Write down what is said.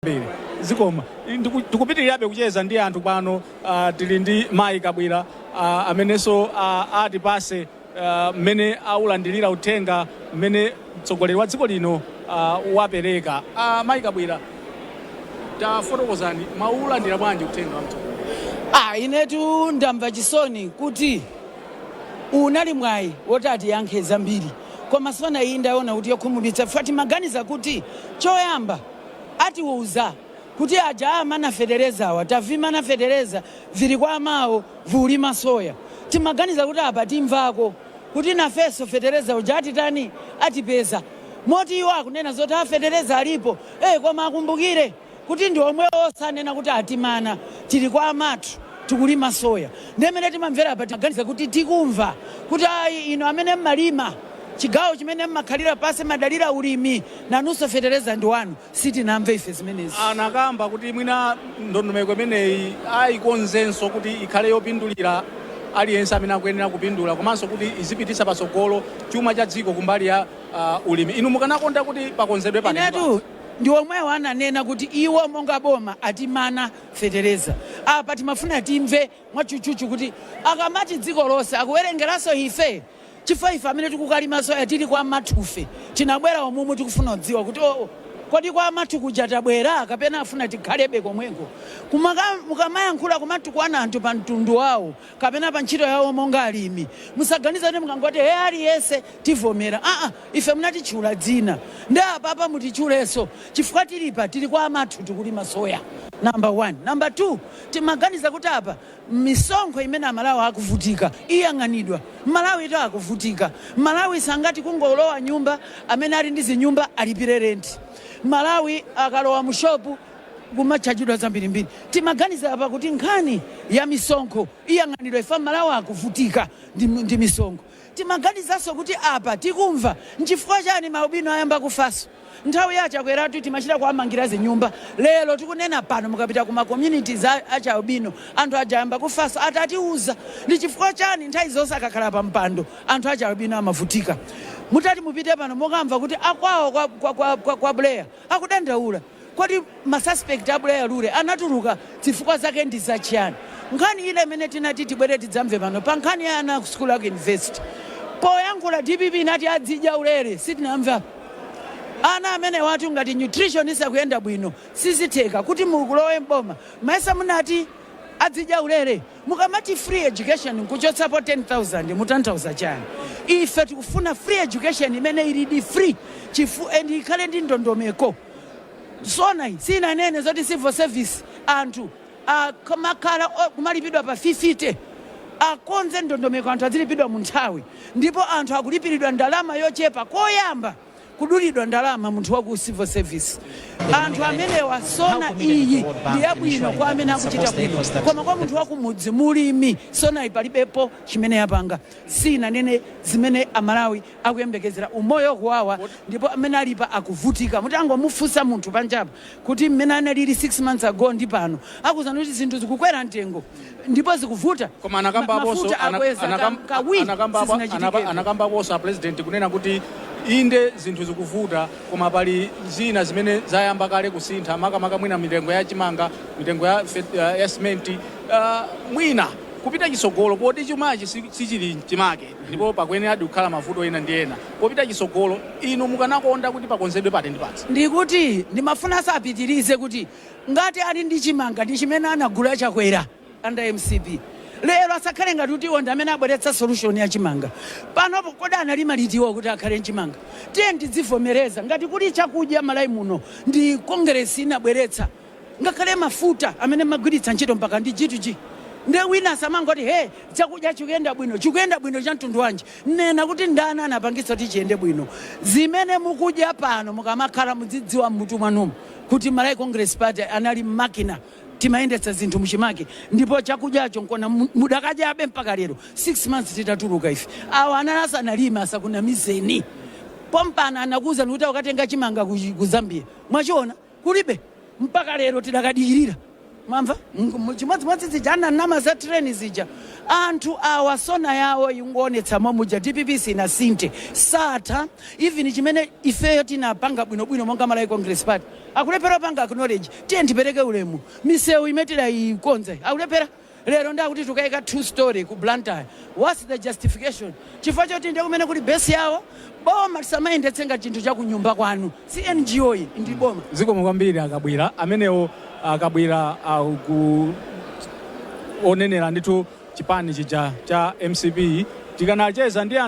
kwambiri zikomo Ndiku- tikupitirirabe kucheza ndi anthu pano ah, tili ndi mayi kabwira ah, amenenso ah, atipase ah, mmene aulandirira uthenga mmene mtsogoleri wa dziko lino ah, wapereka Ah, mayi kabwira tafotokozani mwaulandira bwanji uthenga wa mtsogoleri Ah, inetu ndamva chisoni kuti unali mwayi woti atiyankhe zambiri koma sona iyi ndaona kuti yokhumudwitsa ife timaganiza kuti choyamba atiuza kuti aja amana fetelezawa tavimana feteleza vili kwawo vikulima soya timaganiza kuti apa timvako kuti nafenso feteleza uja atitani atipeza moti iwo akunena zoti a feteleza alipo eh koma akumbukire kuti ndi omwewo ananena kuti atimana tili kwa amathu tikulima soya ndimene timamvera apa timaganiza kuti tikumva kuti ayi inu amene mmalima chigawo chimene mmakhalira paja mmadalira ulimi Nanunso fetereza ndi wanu sitinamve ife zimenezi. Anakamba kuti mwina ndondomeko imeneyi aikonzenso kuti ikhale yopindulira aliyense amene akuyenera kupindula komanso kuti izipititsa patsogolo chuma cha dziko kumbali ya uh, ulimi. Inu mukanakonda kuti pakonzedwe pati ndi pati? Inetu ndi omwewo ananena kuti iwo monga boma atimana fetereza. Apa timafuna timve mwatchutchutchu kuti akamati dziko lonse akuwerengeranso ife? chifukwa ife amene tikukalima soya tili kwa amathufe tinabwera umu tikufuna kudziwa kuti oo kodi kwa amathu kuja tabwera kapena afuna tikhalebe komweko? Kumaka, mukamayankhula kumatukwana anthu pa mtundu wawo kapena pa ntchito yawo monga alimi musaganize kuti mukangoti he aliyense tivomera aa ife munatitchula dzina nde apapa mutitchulenso chifukwa tili apa tili kwa amathu tikulima soya number one number two Timaganiza kuti apa misonkho imene amalawi akuvutika iyang'anidwa. Amalawitu akuvutika. Amalawi sangati kungolowa nyumba amene ali ndi zinyumba alipire rent. Amalawi akalowa mu shop kumatchajidwa zambirimbiri. Timaganiza apa kuti nkhani ya misonkho iyang'anidwa chifukwa amalawi akuvutika ndi misonkho. Timaganizanso kuti apa tikumva nchifukwa chani ma albino ayamba kufanso. Nthawi ya a Chakweratu timachita kuwamangira zinyumba lero tikunena pano mukapita ku ma communities a achi albino anthu aja ayamba kufanso atatiuza ndi chifukwa chani nthawi zonse akakhala pa mpando anthu achi albino amavutika mutati mupite pano mukamva kuti akwawo kwa, kwa, kwa, kwa, kwa Buleya akudandaula Kodi ma suspect a Buleya Lule anatuluka zifukwa zake ndi za chiyani? Nkhani yina imene tinati tibwere tidzamve pano pa nkhani ya ana aku sukulu aku university. Poyankhula dpp inati adzidya ulere, sitinamve apa. Ana amenewatu ngati nutrition isakuyenda bwino sizitheka kuti zikulowe m'boma. Mayesa munati adzidya ulere? Mukamati free education nkuchotsapo 10,000 mutanthauza chani? Ife tikufuna free education imene ilidi free chifu and ikhale ndi ndondomeko. Sona iyi siinanene zoti civil service anthu akamakhala o- kumalipidwa pa 50 akonze ndondomeko anthu azilipidwa mu nthawi ndipo anthu akulipiridwa ndalama yochepa koyamba kudulidwa ndalama munthu wa ku civil service anthu amenewa sona iyi ndi yabwino kwa amene akuchita bwino koma kwa munthu wakumudzi mulimi sonayi palibepo chimene yapanga siinanene zimene amalawi akuyembekezera umoyo ukuwawa ndipo mmene alipa akuvutika mutangomufunsa munthu panjapa kuti mmene analili 6 months ago ndi pano akuuzani kuti zinthu zikukwera mtengo ndipo zikuvuta Koma anakambaponso mafuta ana- akweza anakam- ka- kawiri anakamba apo- anapa- sizinachitikebe anakambaponso a president kunena kuti inde zinthu zikuvuta koma pali zina zimene zayamba kale kusintha makamaka mwina mitengo ya chimanga mitengo ya, fet- ya, ya simenti uh, mwina kupita chitsogolo poti chumachi si- sichili mchimake Ndipo pakuyeneradi kukhala mavuto ena ndi ena popita chitsogolo. Inu mukanakonda kuti pakonzedwe pati ndi pati? Ndikuti ndimafuna asapitilize kuti ngati ali ndi chimanga ndi chimene anagula chakwera under mcp lero asakhale ngati kuti iwo ndi amene abweretsa solution ya chimanga panopo kodi analima liti iwo kuti akhale ndi chimanga tiyeni tidzivomereza ngati kuli chakudya malawi muno ndi congress inabweretsa Ngakhale mafuta amene mmagwiritsa ntchito mpaka ndi G to G nde wina asamangoti hee chakudya chikuyenda bwino chikuyenda bwino cha mtundu wanji nena kuti ndani anapangitsa kuti chiyende bwino zimene mukudya pano mukamakhala mudzidziwa mmutu mwanumo kuti Malawi Congress Party anali makina timayendetsa zinthu muchimake ndipo chakudyacho nkona mudakadyabe mpaka lero 6 months titatuluka ife awa anali asanalime asakunamizeni pompano anakuuzani kuti akukatenga chimanga ku Zambia mwachiona kulibe mpaka lero tidakadikirira mwamva M- chimodzimodzi zija ananama za train zija anthu awa sona yawo ingoonetsa momuja dpp sinasinthe satha even chimene ifeyo tinapanga bwinobwino monga malawi congress party akulephera kupanga acknowledge tiyeni tipereke ulemu misewu imene tidayikonza akulephera lero nde akuti tikukaika 2 story ku Blantyre whats the justification? chifukwa choti nde kumene kuli base yawo? boma lisamayendetse ngati chinthu cha kunyumba kwanu si NGO iyi ndi boma. Zikomo kwambiri a Kabwila. Amenewo a Kabwila onenera ndithu chipani chija cha mcp. Tikanacheza ndi anthu.